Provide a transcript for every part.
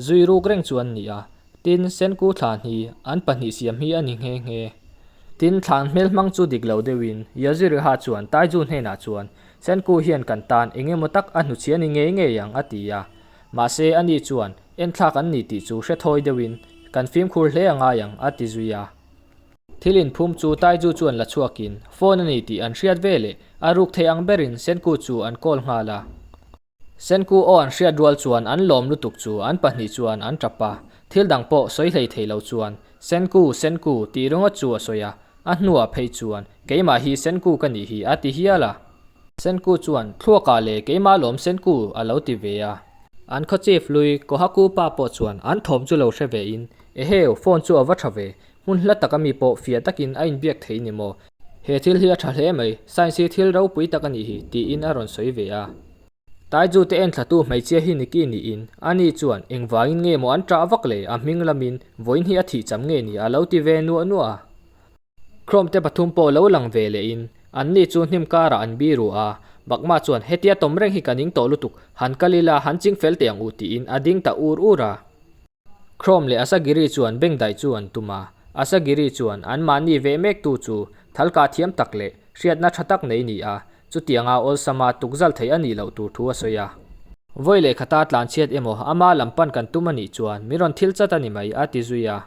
Zui ruk reng chu an ni a, tin Senku thla hni an pahnih siam hi a ni nghe nghe. Tin, thlan hmel hmang chu dik lo deuhin Yaziriha chuan Taiju hnenah chuan, Senku hian kan tan eng emaw tak a hnuchhia ni ngei ngei ang, a ti a. Mahse, ani chuan, Enthlak an ni tih chu hre thawi deuhin kan fimkhur hle a ngai ang, a ti zui a. Thil inphum chu Taiju chuan la chhuakin, Phone a ni tih an hriat veleh a ruk thei ang berin Senku chu an call nghal a. Senku aw an hriat rual chuan an lawm lutuk chu an pahnih chuan an tap a, thil dang pawh sawi hlei thei lo chuan Senku, Senku tih ringaw chu a sawi a, a hnuah phei chuan keimah hi Senku ka nih hi a ti hial a. Senku chuan thluakah leh keimah lawm Senku a lo ti ve a. An khaw chief lui Kohaku pa pawh chuan an thawm chu lo hre ve in, Eheu, phone chu a va tha ve, hmun hla tak ami pawh fiah takin a inbiak thei ni maw? He thil hi a tha hle mai, science hi thil ropui tak a ni hi, tiin a rawn sawi ve a. Taizu te enthatu hmeichhia hi Nicky niin, ani chuan eng vangin nge maw an ṭah vak le, a hming lamin vawiin hi a thih cham nge ni a lo ti ve nuah nuah a. Khrome te pathum pawh lo lang ve leh in, an ni chu hnim karah an bi ru a, Bakma chuan hetia tawm reng hi ka ning tawh lutuk, han kal ila han ching fel teh ang u tiin a ding ta ur ur a. Chrome leh Asagiri chuan beng daih chu an tum a, Asagiri chuan an mahni ve mek tu chu thal kah thiam tak leh hriatna tha tak nei ni a, chutianga awlsama tukzalh theih a nih loh tur thu a sawi a. Vawi leh khata tlanchhiat emaw ama lam pan kan tum a nih chuan min rawn thil chat a ni mai, a ti zui a.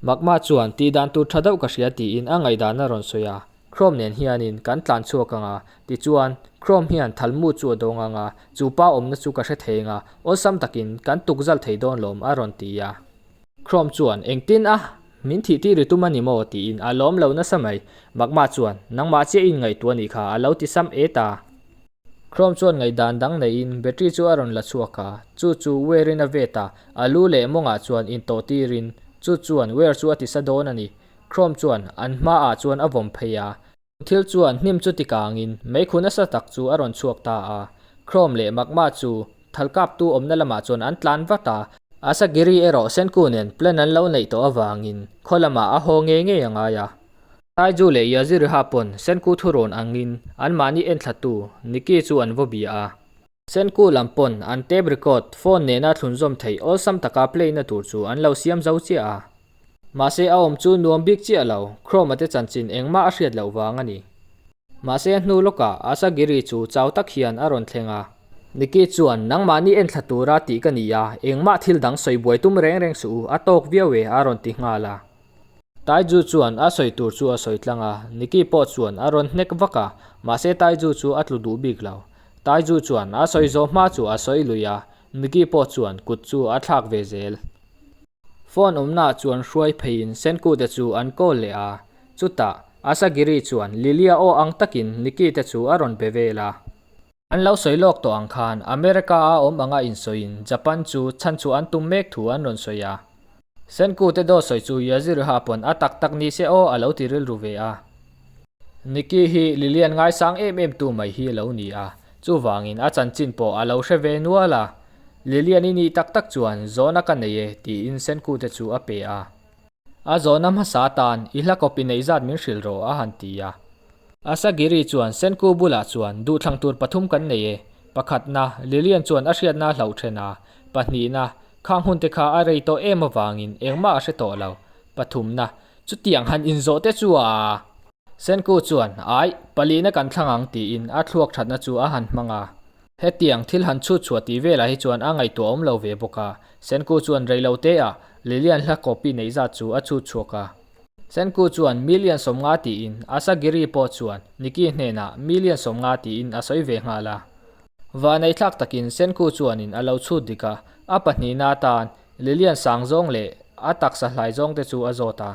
Magma chuan, Tih dan tur tha deuh ka hria tiin a ngaihdana a rawn sawi a, Chrome nen hianin kan tlan chhuak ang a. Tichuan, Chrome hian thalmu chu a dawng ang a, chupa awmna chu ka hre thei ang a, awlsam takin kan tukzalh thei dawn lawm a rawn ti a. Chrome chuan, Engtin a, min thih tih ri tum a ni maw? tiin a lawm lo nasa mai. Magma chuan, Nangmah chiahin ngaihtuah a nih kha, a lo ti sam e ta. Chrome chuan ngaihdan dang neiin battery chu a rawn la chhuak a, chu chu wear in a vet a, a lu leh mawngah chuan in tawh tir in chu chuan wear chu a ti sa dawn a ni. Chrome chuan an hma ah chuan a vawm phei a, chu thil chuan hnim chu ti kang in meikhun a sa tak chu a rawn chhuak ta a, Chrome leh magma chu thal kap tu awmna lamah chuan an tlan vat a, Asagiri erawh Senku nen plan an lo neih tawh avangin khaw lamah a haw ngei ngei a ngai a, Taiju leh Yaziriha pawn Senku thu rawn angin an mahni enthlatu Nikki chu an vaw bia a. Senku lam pawn an tape record phone nena thlunzawm theih awlsam taka play na tur chu an lo siam zo chiah a. Mahse a awm chu nuam bik chiah lo, Chroma te chanchin engmah a hriat loh vang a ni. Mahse a hnu lawkah Asagiri chu chau tak hian a rawn thleng a. Nikki chuan nangmahni entthla tura tih ka ni a, engmah thil dang sawi buai tum reng reng suh u, a tawk viau e a rawn ti nghal a. Taiju chuan a sawi tur chu a sawi tlang a, Nicky pawh chuan a rawn hnek vak a, mahse Taiju chu a tlu duh bik lo. Taiju chuan a sawi zawh hma chu a sawi lui a, Nicky pawh chuan kut chu a thlak ve zel. Phone awmnaah chuan hruai pheiin Senkute chu an call leh a, chutah Asagiri chuan Lily-a aw ang takin Nicky-te chu a rawn pe vel a. An lo sawi lawk tawh ang khan America a awm anga insawiin Japan chu chhanchhuah an tum mek thu an rawn sawi a. Senkute daw sawi chu Yajiraha a pawn a tak tak ni se aw a lo ti rilru ve a. Nikki hi Lilian ngaisang em em tu mai hi a lo ni a, chuvangin a chanchin pawh a lo hre ve nual a. Lilian i nih tak tak chuan zawn a ka nei e tiin Senkute chu a pe a. A zawhna hmasa tan i hla copy nei zat min hrilh rawh a han ti a. Asagiri chuan Senku bulah chuan duhthlang tur pathum kan nei e, pakhatna, Lilian chuan a hriatna a hlauh then a, pahnihna, khang hunte kha a rei tawh em avangin engmah a hre tawh lo, pathumna, chutiang han inzawh te chu a. Senku chuan, Aih, palihna kan thlang ang tiin a thluak thatna chu a han hmang a. Hetiang thil han chhut chhuah tih velah hi chuan a ngaihtuah a awm lo ve bawk a. Senku chuan rei lo te a, Lilian hla copy neih zat chu a chhut chhuak a. Senku chuan million sawmnga tiin Asagiri pawh chuan Nikki hnenah million sawmnga tiin a sawi ve nghal a. Vanei thlak takin Senku chuanin a lo chhut dik a, a pahnihna atan Lilian sang zawng leh a taksa hlai zawng te chu a zawt a.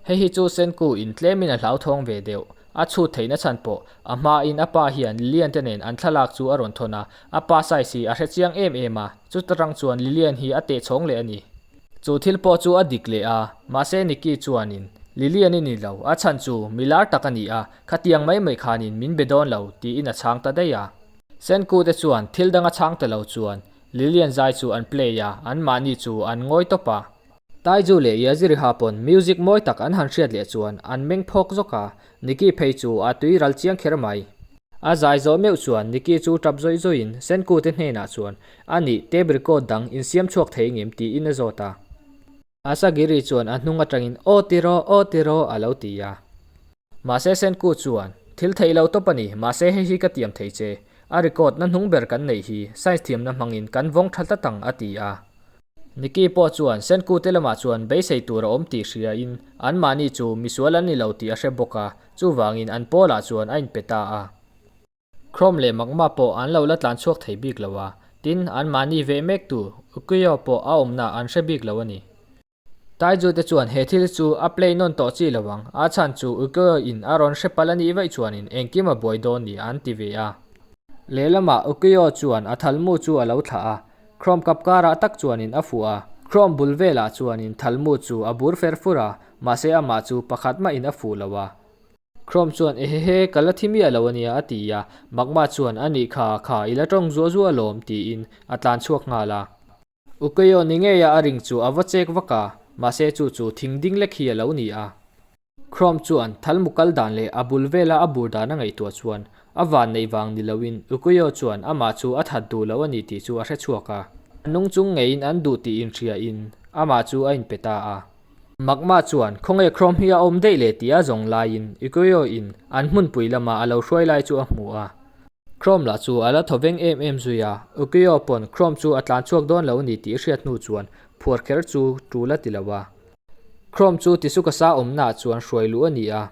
Hei hi chu Senku in tlemin a hlauthawng ve deuh. A chhut thei nachhan pawh a hmain a pa hian Lilian te nen an thlalak chu a rawn thawn a, a pa size hi a hre chiang em em a, chuta tang chuan Lilian hi a teh chhawng leh a ni. Chu thil pawh chu a dik leh a, mahse Nicky chuanin, Lilian i ni lo, a chhan chu mi lar tak a ni a, khatiang mai mai khanin min be dawn lo tiin a chhang ta daih a. Senku te chuan thil dang a chhang ta lo chuan Lilian zai chu an play a, anmahni chu an ngawi tawp a. Taiju leh Yaziriha pawn music mawi tak an han hriat leh chuan an meng phawk zawk a, Nicky phei chu a tui ral chiang kher mai. A zai zawh meuh chuan Nicky chu tap zawih zawihin Senku te hnenah chuan a nih tape record dang in siam chhuak thei ngim tiin a zawt a. Asagiri chuan a hnung atangin aw tiraw aw tiraw a lo ti a. Mahse Senku chuan, Thil theih lo tawp a ni, mahse hei hi ka tiam thei che, a record na hnung ber kan neih hi Science thiamna hmangin kan vawng tha tlat ang, a ti a. Nikki pawh chuan Senku te lamah chuan beisei tur a awm tih hriain anmahni chu misual an ni lo tih a hre bawk a, chuvangin an pawl ah chuan a inpe ta a. Chrome leh magma pawh an lo la tlan chhuak thei bik lo a, tin anmahni veh mektu Ukiyo pawh a awmna an hre bik lo a ni. Taizu te chuan he thil chu a play nawn tawh chi lo ang, a chhan chu Ukyo-i in a rawn hre pal a nih vaih chuanin engkim a buai dawn nia an ti ve a. Lehlamah Ukyo chuan a thalmu chu a lo thlah a, Chrome kap karah tak chuanin a fuh a, Chrome bul velah chuanin thalmu chu a bur fer fur a, mahse amah chu pakhat mahin a fuh lo a. Chrome chuan ehehe ka la thi miah lo a nia a ti a, Magma chuan a nih kha kha i la tawng zuah zuah alawm tiin a tlan chhuak nghal a. U Keo ni ngei a a ring chu a va chek vak a, mahse chu chu thing ding lek hi a lo ni a. Chrome chuan thal mu kal dan leh a bul vela a bur dan a ngaihtuah chuan a van neih vang ni loin U Keo chuan amah chu a that duh loh a ni tih chu a hre chhuak a. Nung chung ngeiin an duh tih inhria in amah chu a inpe ta a. Magma chuan, Khawnge Chrome hi a awm daih leh tia zawng laiin Ikueo in an hmunpui lamah a lo hruai lai chu a hmu a. Chrome lah chu a la thaw veng em em zui a, Ikueo pawn Chrome chu a tlan chhuak dawn lo a ni tih a hriat hnu chuan phuar kher chu tu la ti lo a. Chrome chu Tisukasa awmnaah chuan hruai luh a ni a.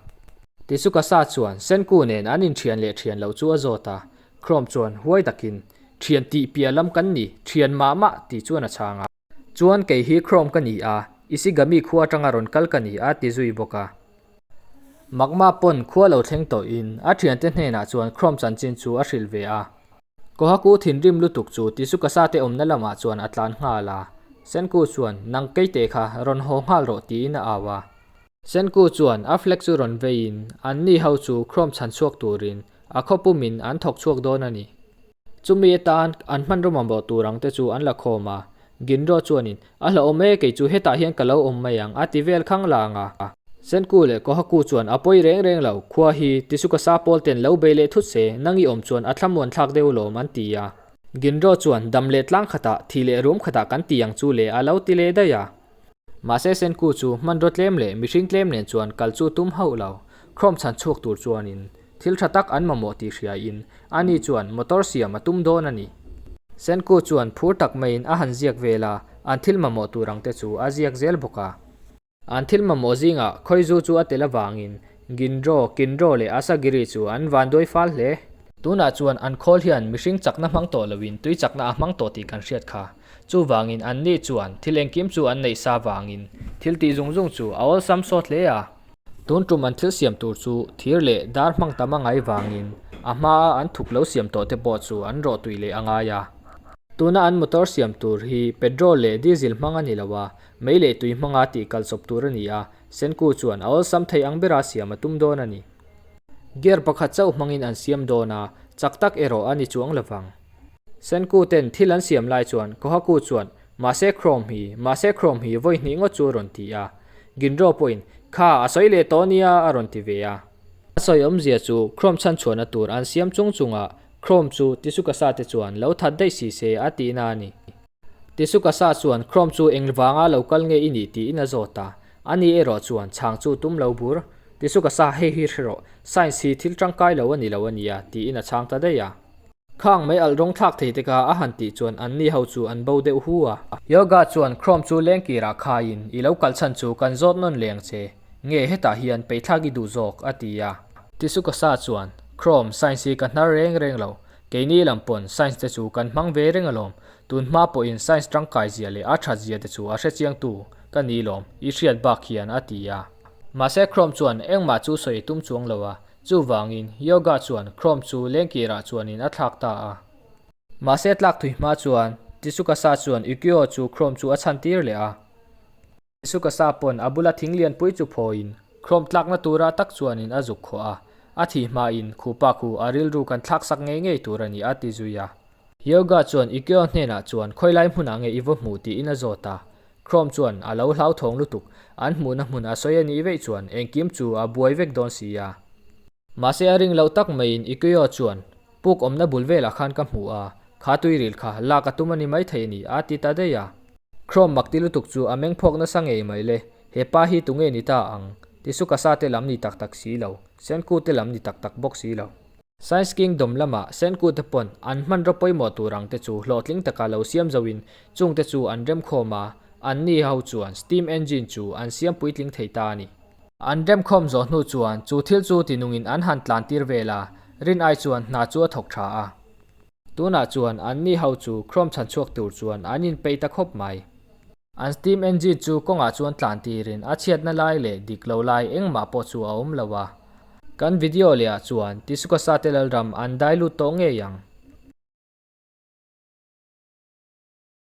Tisukasa chuan, Senku nen an inthian leh thian loh chu a zawt a. Chrome chuan huai takin, Thian tih piah lam kan ni, thian mah mah tih chuan a chhang a. Chuan kei hi Chrome ka ni a, Ishigami khua atanga rawn kal ka ni a ti zui bawk a. Magma pawn khua lo thleng tawhin a thiante hnenah chuan Chrome chanchin chu a hrilh ve a. Kohaku thinrim lutuk chu Tisukasate awmna lamah chuan a tlan nghal a. Senku chuan, Nang kei te kha rawn haw nghal rawh tiin a au a. Senku chuan a flag chu rawn veiin, Anni ho chu Chrome chhan chhuak turin a khaw pumin an thawk chhuak dawn a ni. Chumi atan an hman rawmawm bawh tur ang te chu an la khawm a. Ginro chuanin, A hlauhawm e, keichu hetah hian ka lo awm mai ang, a ti vel khang lang a. Senku leh Kohaku chuan a pawi reng reng lo, Khua hi tisuka sa pawl ten lo bei leh thut se, nang i awm chuan a thlamuan thlak deuh lawm an ti a. Ginro chuan, Dam leh tlang khatah, thi leh rum khatah kan ti ang chu le, a lo ti leh daih a. Mahse Senku chu hmanraw tlem leh mihring tlem nen chuan kal chu tum hauh lo. Khawm chhan chhuak tur chuanin, Thil tha tak an mamawh tih hriaiin ani chuan motor siam a tum dawn a ni. Senku chuan phur tak maiin a han ziak vel a, an thil mamawh tur ang te chu a ziak zel bawk a. An thil mamawh zingah Khawizu chu a tel avangin Gindro, Kindro leh Asagiri chu an vanduai fal hle. Tunah chuan an khawl hian mihring chakna hmang tawh loin tui chakna a hmang tawh tih kan hriat kha. Chuvangin anni chuan thil engkim chu an neih sa vangin thiltih zung zung chu a awlsam sawt hle a. Tun tum an thil siam tur chu thir leh dar hmang tam a ngai vangin a hmaa an thuk lo siam tawh te pawh chu an rawh tui leh a ngai a. Tuna an motor siam tur hi petrol leh diesel hmang a ni lo a, mei leh tui hmanga tih kal chawp tur a ni a, Senku chuan a awlsam thei ang bera siam a tum dawn a ni. Gear pakhat chauh hmangin an siam dawn a, chak tak erawh a ni chuang lo vang. Senku ten thil an siam lai chuan Kohaku chuan, Mahse Chrome hi, mahse Chrome hi vawi hnih ngawt chu a rawn ti a. Ginro pawhin, Kha, a sawi leh tawh nia a rawn ti ve a. A sawi awmzia chu Chrome chhan chhuahna tur an siam chung chungah Chrome chu Tisukasa-te chuan lo that daih si se a tihna a ni. Tisuka sa chuan Chrome chu eng vanga lo kal nge i nih tiin a zawt a, a ni erawh chuan chhang chu tum lo bur. Tisuka sa hei hi hrerawh, Science hi thil tangkai lo a ni lo a nia tiin a chhang ta daih a. Khang mai alh rawng thlak thei te kha a han tih chuan an ni ho chu an bo deuh hu a. Yoga chuan Chrome chu lengkirah khaiin i lo kal chhan chu kan zawt nawn leng che, nge hetah hian peithlak i duh zawk a ti a. Tisuka sa chuan Chrome, Science hi ka hnar reng reng lo, Keini lam pawn science te chu kan hmang ve reng alawm. Tunhma pawhin science tangkaizia leh a thatzia te chu a hrechiangtu ka ni lawm i hriat bak hian a ti a. Mahse Chrome chuan engmah chu sawi i tum chuang lo a, chuvangin Yoga chuan Chrome chu lengkirah chuanin a thlak ta a. Mahse tlak thui hma chuan Tsuchikasa chuan Ukiyo chu Chrome chu a chhan tir leh a. Suka sa pawn a bula thing lianpui chu phawiin khlawm tlakna tura tak chuanin a zuk khawh a, a thi hmain khupa khu a rilru kan thlaksak ngei ngei tur a ni a ti zui a. Yoga chuan i kyo hnenah chuan khawilai hmunah nge i vaw hmuh tiin a zawt a, khlawm chuan a lo hlauthawng lutuk, an hmuhna hmun a sawi a nih veih chuan engkim chu a buai vek dawn si a. Mahse a ring loh tak maiin i Kyo chuan, Puk awmna bul velah khan ka hmu a, kha tui ril kha, lak a tum a ni maithei a ni, aa ti ta daih a. Chrome mak ti lutuk chu a meng phawk nasa ngei mai le, he pa hi tu nge ni ta ang, ti suka sa te lam ni tak tak si lo, Senkut te lam ni tak tak bawk si lo. Science Kingdom lama Senkut te pawn an hmanraw pawimawh tur ang te chu hlawhtling taka lo siam zo in chungte chu an remkhawm a, an ni ho chuan steam engine chu an siam puitling thei ta a ni. An remkhawm zawh hnu chuan chu thil chu tinungin an han tlantir vel a, Rin ai chuan hna chu a thawk tha a. Tunah chuan an ni ho chu Chrome chhan chhuak tur chuan an inpei ta khawp mai. An Steam engine chu kawngah chuan tlantirin a chhiatna lai leh dik lo lai engmah pawh chu a awm lo a. Kan video lehah chuan Tisukasa te lalram an dilute tawh ngei ang.